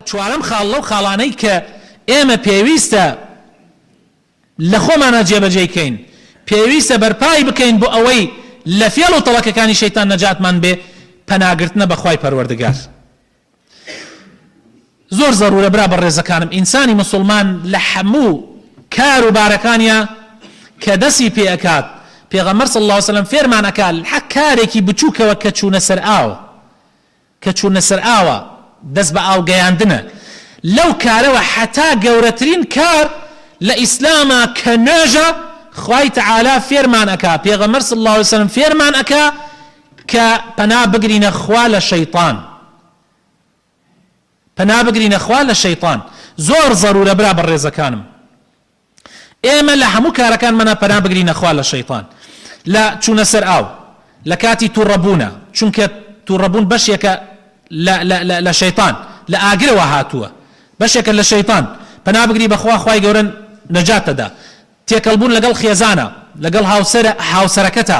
چوارەم خاڵ لەو خاڵانەی کە ئێمە پێویستە لە خۆمانە جێبەجێی کەین پێویستە بەرپای بکەین بۆ ئەوەی لە فێڵ و تەڵەکەکانی شەیتان نەجاتمان بێ پەناگرتنە بەخوای پەروەردگار زۆر زەرورە برا بە ڕێزەکانم ئینسانی مسلمان لە هەموو کار و بارەکانیا کە دەسی پێ ئەکات پێغەمەر صلی الله وسلم فێرمان ئەکات حەک کارێکی بچووکەوە کە چوونە سەر ئاو کە چوونە سەر ئاوە دەست بە ئاو گەیاندنە لەو کارەوە حەتا گەورەترین کار لە ئیسلامە کە نوێژە خوای تەعالا فێرمان ئەکا پێغەمبەر صلی اللە علیە وسلم فێرمان ئەکا کە پەنا بگرینە خوا لە شەیتان پەنا بگرینە خوا لە شەیتان زۆر زەرورە برا بەڕێزەکانم ئێمە لە هەموو کارەکانمانا پەنا بگرینە خوا لە شەیتان لە چوونە سەر ئاو لە کاتی توڕەبوونا چونکە توڕەبوون بەشێکە لە لە لە لە شەیتان لە ئاگرەوە هاتووە بەشێکە لە شەیتان پەنا بگری بە خوا خوای گەورە نەجاتتەدا تێکەڵبوون لەگەڵ خێزانە لەگەڵ هاوسەرە هاوسەرەکەتا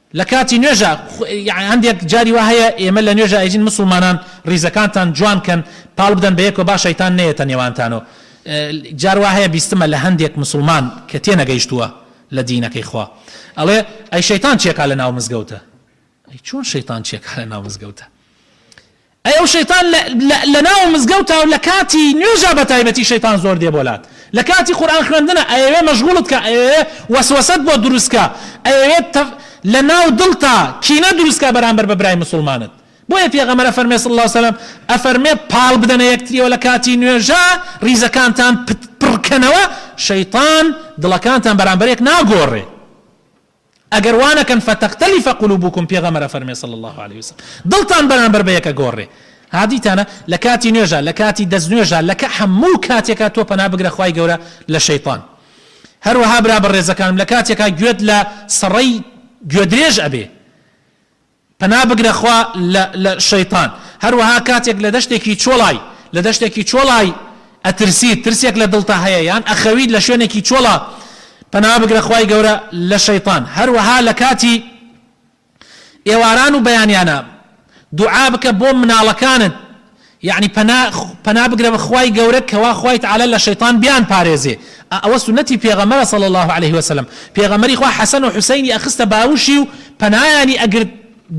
لە کاتی نوێژا یەع هەندێک جاری وا هەیە ئێمە لە نوێژا ئەیجین مسوڵمانان ڕیزەکانتان جوان کەن پاڵ بدەن بە یەکەوە با شەیتان نەیەتە نێوانتانەوە جار وا هەیە بیستمە لە هەندێک مسوڵمان کە تێ نەگەیشتووە لە دینەکەی خوا ئەڵێ ئەی شەیتان چێکا لە ناو مزگەوتە ئەی چۆن شەیتان چێکا لە ناو مزگەوتە ئەی ئەو شەیتان لە لە لە ناو مزگەوتا و لە کاتی نوێژا بە تایبەتی شەیتان زۆر دێ بۆ لات لە کاتی قورئان خوێندنە ئەیەوێ مەژغوڵت کا ئەیەوێ وەسوەسەت بۆ دروست کا ئەیەوێ تەف لە ناو دڵتا کینە دروست کا بەرامبەر بە برای موسوڵمانت بۆیە پێغەمبەر ئەفەرمێ صلی اللە وسلم ئەفەرمێ پاڵ بدەنە یەکتریەوە لە کاتی نوێژا ڕیزەکانتان پت پڕ کەنەوە شەیتان دڵەکانتان بەرامبەر یەک ناگۆڕێ. ئەگەر وانەکەن فتختلف قلوبکم پێغەمبەر ئەفەرمێ صلی اللە علیە وسلم دڵتان بەرامبەر بە یەک ئەگۆڕێ ها دیتانە لە کاتی نوێژا لە کاتی دەست نوێژا لە کە هەموو کاتێکا تۆ پەنا بگرە خوای گەورە لە شەیتان هەروەها برا بەڕێزەکانم لە کاتێکا گوێت لە سەڕەی گوێدرێژ ئەبێ پەنا بگرە خوا لە لە شەیتان. هەروەها کاتێک لە دەشتێکی چۆڵای لە دەشتێکی چۆڵای ئەترسیت ترسێک لە دڵتا هەیە یان ئەخەویت لە شوێنێکی چۆڵا پەنا بگرە خوای گەورە لە شەیتان هەروەها لە کاتی ئێواران و بەیانیانا دوعا بکە بۆ مناڵەکانت یەعنی پەنا پەنا بگرە بە خوای گەورە کەوا خوای تەعالا لە شەیتان بیان پارێزێ ئەوە سونەتی پێغەمبەرە صلی اللە علیە وسلم پێغەمبەری خوا حەسەن و حوسەینی ئەخستە باوشی و پەنایانی ئەگرت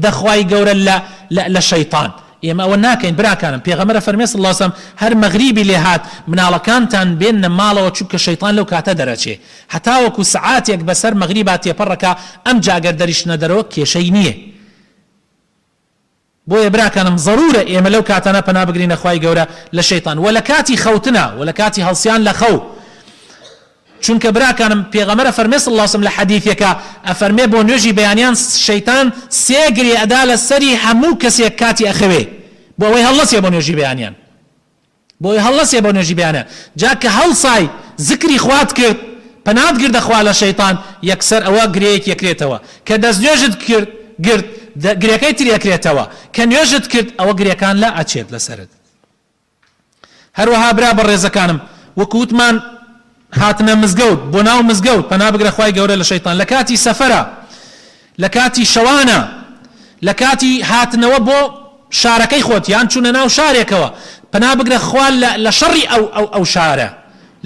دە خوای گەورە لە لە لە شەیتان ئێمە ئەوە ناکەین براکانم پێغەمبەر فەرمی صلی اللە علیە وسلم هەر مەغریبی لێ هات مناڵەکانتان بێننە ماڵەوە چونکە شەیتان لەو کاتە دەرەچێ هەتاوەکو سەعاتێک بەسەر مەغریبا تێپەڕ ئەکا ئەمجا گەر دەریشتنە دەرەوە کێشەی نیە بۆیە براکانم زەرورە ئێمە لەو کاتانە پەنا بگرینە خوای گەورە لە شەیتان وە لە کاتی خەوتنا وە لە کاتی هەڵسیان لە خەو چونکە براکانم پێغەمبەر ئەفەرمێ صلی اللە وسلم لە حەدیثێکا ئەفەرمێ بۆ نوێژی بەیانیان شەیتان سێ گرێ ئەدا لە سەری هەموو کەسێک کاتی ئەخەوێ بۆ ئەوەی هەڵنەسێ بۆ نوێژی بەیانیان بۆی هەڵنەسێ بۆ نوێژی بەیانە جا کە هەڵسای زکری خوات کرد پەنات گردە خوا لە شەیتان یەکسەر ئەوە گرێیەکی ئەکرێتەوە کە دەست نوێژت کرد گرت گرێکەی تری ئەکرێتەوە کە نوێژت کرد ئەوە گرێکان لا ئەچێت لەسەرت هەروەها برا بەڕێزەکانم وەکو وتمان هاتنە مزگەوت بۆ ناو مزگەوت پەنا بگرە خوای گەورە لە شەیتان لە کاتی سەفەرە لە کاتی شەوانە لە کاتی هاتنەوە بۆ شارەکەی خۆت یان چونە ناو شارێکەوە پەنا بگرە خوا لە شەڕی ئەو ئەو ئەو شارە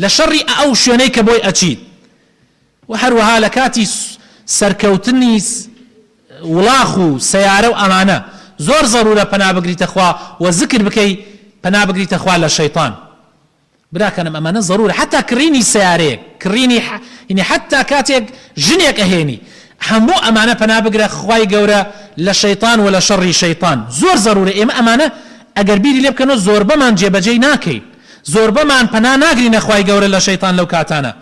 لە شەڕی ئەو شوێنەی کە بۆی ئەچیت و هەروەها لە کاتی سەرکەوتنی وڵاخ و سەیارە و ئەمانە زۆر زەرورە پەنا بگریتە خوا و زکر بکەی پەنا بگریتە خوا لە شەیتان براکانم ئەمانە زەرورە حەتا کڕینی سەیارەیەک کڕینی یەنی حەتا کاتێک ژنێک ئەهێنی هەموو ئەمانە پەنا بگرە خوای گەورە لە شەیتان وە لە شەڕی شەیتان زۆر زەرورە ئێمە ئەمانە ئەگەر بیری لێ بکەنەوە زۆربەمان جێ بەجێی ناکەین زۆربەمان پەنا ناگرینە خوای گەورە لە شەیتان لەو کاتانە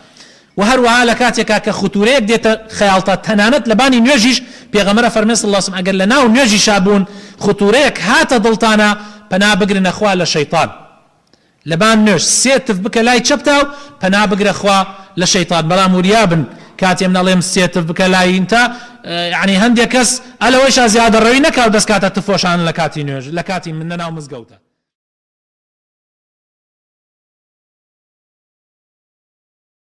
وە هەروەها لە کاتێکا کە ختورەیەک دێتە خەیاڵتا تەنانەت لە بانی نوێژیش پێغەمبەر فەرمێ صلی اللە علیە وسلم ئەگەر لە ناو نوێژیشا بوون ختورەیەک هاتە دڵتانا پەنا بگرنە خوا لە شەیتان لەبان نوێژ سێ تف بکە لای چەپتا و پەنا بگرە خوا لە شەیتان بەڵام وریا بن کاتی من ئەڵێم سێ تف بکە لای انتا یەعنی هەندێ کەس ئە لەوەیشا زیادە ڕەوی نەکا و دەس کاتە تف وەشانن لە کاتی نوێژ لە کاتی من لە ناو مزگەوتا